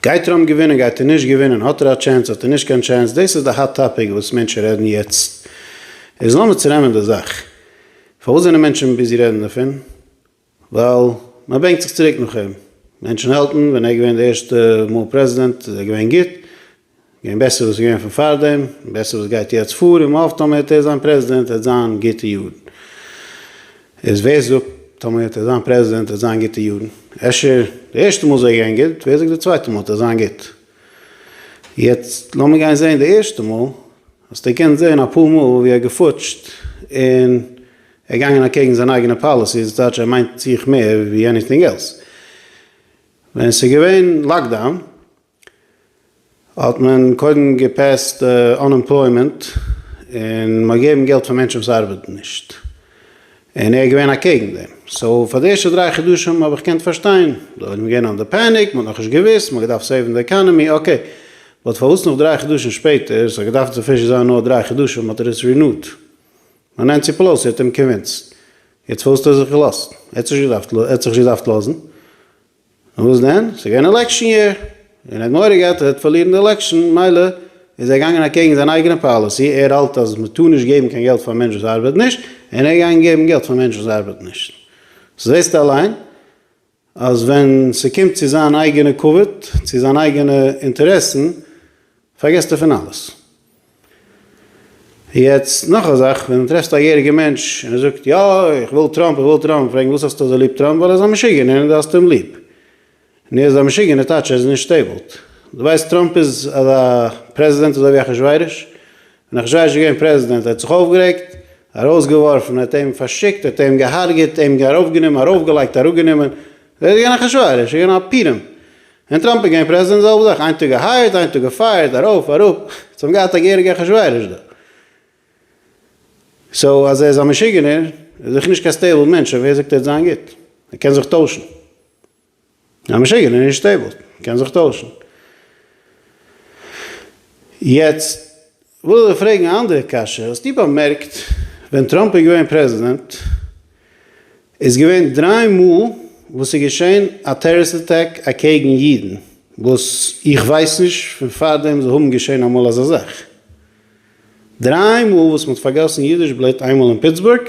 גייט טראמפ געווינען גייט ער נישט געווינען האט ער א טשענס האט ער נישט קיין טשענס דאס איז די האט טאפיק וואס מענטשן רעדן יעצט איז לאמיר צונעמען די זאך פארוואס זענען מענטשן ביזי רעדן דערפון ווייל מען בענקט זיך צוריק נאך אים מענטשן האלטן ווען ער איז געווען די ערשטע מאל פרעזידענט איז ער געווען גוט. געווען בעסער וואס איז געווען פון פארדעם, בעסער וואס גייט יעצט פאר, און מ'האפט טאמער וועט ער זיין פרעזידענט וועט זיין גוטע יארן. איז ווער זאגט טאמער וועט ער זיין פרעזידענט וועט זיין גוטע יארן? אפשר די ערשטע מאל איז ער געווען גוט, ווער זאגט די צווייטע מאל וועט ער זיין גוט? יעצט לאמיר גיין זעהן די ערשטע מאל, האסט געקענט זעהן אפאר מאל ווי ער האט געפוטשט און ער געגאנגען אקעגן זיין אייגענע פאליסיס, דאס טייטש ער מיינט זיך מער ווי עניטינג עלס. ווען עס איז געווען לאקדאון. האט מען קודם געפעסט אנעמפלוימענט און מ'האט געגעבן געלט פאר מענטשן וואס ארבעטן נישט, און ער איז געווען אקעגן דעם, סאו פאר די ערשטע דריי חדשים האב איך געקענט פארשטיין, די עולם איז געווען אנדער פעניק, מ'האט נאכנישט געוויסט, מ'האט געדארפט סעיוון די עקאנעמי, אקעי, באט פארוואס נאך דריי חדשים שפעטער, ס'האט געדארפט סאפישענט זיין נאר דריי חדשים, האט ער עס רינועט? נו נענסי פעלאוסי האט אים קאנווינסט, יעצט פארוואס האט ער זיך געלאזט? ער האט זיך נישט געדארפט לאזן. און וואס דען? ס'איז געווען עלעקשן יער, און האט מורא געהאט ער וועט פארלירן די עלעקשן, מילא איז ער געגאנגען אקעגן זיין אייגענע פאליסי, ער האלט אז מ'טאר נישט געבן קיין געלט פאר א מענטש וואס ארבעט נישט, און ער איז געגאנגען געבן געלט פאר מענטש וואס ארבעט נישט. סאו זעסטו אליין אז ווען ס'קומט צו זיין אייגענע כבוד, צו זיין אייגענע אינטערעסן, פארגעסט דערפון אלעס. יעצט נאך א זאך, ווען טרעפסטו א יעריגע מענטש און ער זאגט יא איך וויל טראמפ איך וויל טראמפ, פרעג אים וואס האסטו אזוי ליב טראמפ, ווייל ער איז א משוגענער און דו האסט אים ליב. נו איז ער א משוגענער טייטש ער איז נישט סטעיבלט. דו ווייסט טראמפ איז אזא פרעזידענט אזוי ווי אחשורוש. ווען אחשורוש איז געווען פרעזידענט ער האט זיך אויפגערעגט, ארויסגעווארפן, ער האט אים פארשיקט, ער האט אים געהארגעט, אים ארויפגענומען, ארויפגעלייגט, אראפגענומען, ער איז געווען אחשורוש, ער איז געווען א פירעם. און טראמפ איז געווען פרעזידענט זעלבע זאך איין טאג געהייערט איין טאג געפייערט ארויף אראפ זיי האבן געהאט א געהעריגע אחשורוש דא סאו אז ער איז א משוגענער איז זיכער נישט קיין סטעיבל מענטש שוין ווער זאגט ער וועט זיין גוט ער קען זיך טוישן א משוגענער איז נישט סטעיבל קען זיך טוישן יעצט. וויל איך פרעגן א אנדערע קשיא, האסטו באמערקט ווען טראמפ איז געווען פרעזידענט איז געווען דריי מאל וואס ס'איז געשען א טעראריסט אטעק אקעגן אידן, וואס איך ווייס נישט פון פארדעם זיי האבן געשען אמאל אזא זאך, דריי מאל וואס מ'האט פארגאסן אידיש בלוט איינמאל אין פיטסבורג,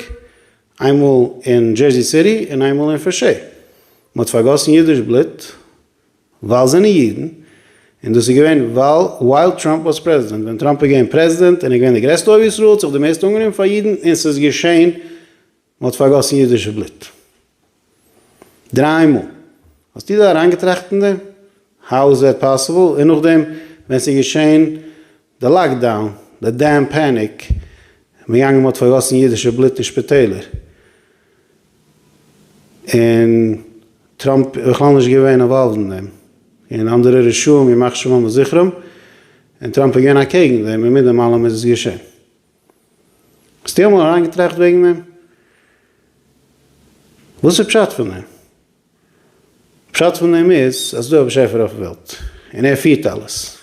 איינמאל אין דזשערזי סיטי און איינמאל אין פרשעי, מ'האט פארגאסן אידיש בלוט. ווייל זענען אידן, און דאס איז געווען ווייל ווייל טראמפ וואס פרעזידענט, ווען טראמפ איז געווען פרעזידענט און איז געווען די גרעסטע אוהב ישראל האט זיך די מערסטע אנגענומען פאר אידן און ס'איז געשען מ'האט פארגאסן אידישע בלוט דריי מאל, האסטו דיר אריינגעטראכט אין דעם? האו איז דעט פאסיבל? און נאכדעם ווען ס'איז געשען די לאקדאון, די דעם פעניק, מיט יענג מ'האט פארגאסן אידישע בלוט אין שפיטעלער, און טראמפ איז בכלל נישט געווען אינוואלווד אין דעם, און אנדערע רשעים ימח שמם וזכרם, און טראמפ איז געווען אקעגן דעם און מיט דעם אלעם איז עס געשען. האסטו אמאל אריינגעטראכט וועגן דעם? וואס איז פשט פון דעם? פשט פון דעם איז אז ס'דא א באשעפער אויפן וועלט און ער פירט אלעס,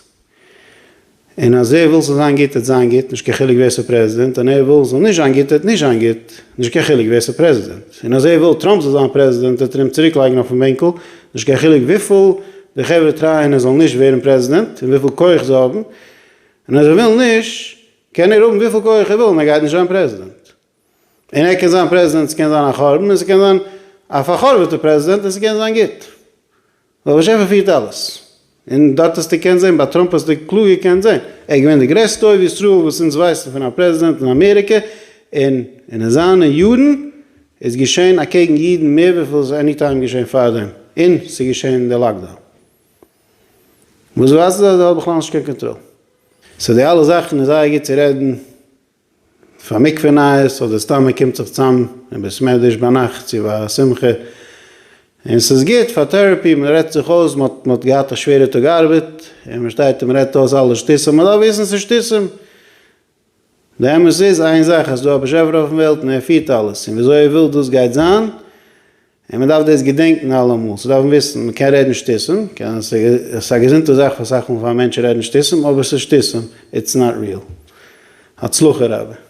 און אז ער וויל ס'זאל זיין גוט העט זיין גוט נישט קיין חילוק ווער ס'איז פרעזידענט, און ער וויל ס'זאל נישט זיין גוט העט נישט זיין גוט נישט קיין חילוק ווער ס'איז פרעזידענט, און אז ער וויל טראמפ זאל זיין פרעזידענט העט ער אים צוריק לייגן אויפן בענקל נישט קיין חילוק וויפיל די חברה טרייען ער זאל נישט ווערן פרעזידענט און וויפיל כח זיי האבן, און אז ער וויל נישט קען ער האבן וויפיל כח ער וויל און ער גייט נישט זיין פרעזידענט. און ער קען זיין פרעזידענט, ס'קען זיין א חורבן, און ס'קען זיין א פאר'חורב'עטע פרעזידענט, און ס'קען זיין גוט. ווייל באשעפער פירט אלעס. און דארט האסטו געקענט זען, ביי טראמפ האסטו קלאר געקענט זען, ער איז געווען די גרעסטע אוהב ישראל וואס אונז ווייסן פון א פרעזידענט אין אמעריקע, און אין זיינע יארן איז געשען אקעגן אידן מער וויפיל ס'איז עני טיים געשען פארדעם, און ס'איז געשען די לאקדאון. וואס ווייזט אז ער האט בכלל נישט קיין קאנטראל. סאו די אלע זאכן איז זייער גוט צו רעדן. פאר מקווה נייעס אדער סתם מען קומט זיך צאם אין בית מדרש ביינאכט צו א שמחה און ס'איז גוט פאר טערעפי מען רעדט זיך אויס מען האט מען האט געהאט א שווערע טאג ארבעט און מען שטייט און מען רעדט אויס אלע שטותים מען דארף וויסן ס'איז שטותים די אמת איז איין זאך אז ס'איז דא א באשעפער אויפן וועלט און ער פירט אלעס און וויאזוי ער וויל דאס גייט זיין. און מען דארף דאס געדענקן אלעמאל, צו דארפן וויסן, מען קען רעדן שטותים, קען, ס'איז א געזונטע זאך פאר אסאך מאל פאר א מענטש צו רעדן שטותים, אבער ס'איז שטותים, איטס נאט ריעל. הצלחה רבה.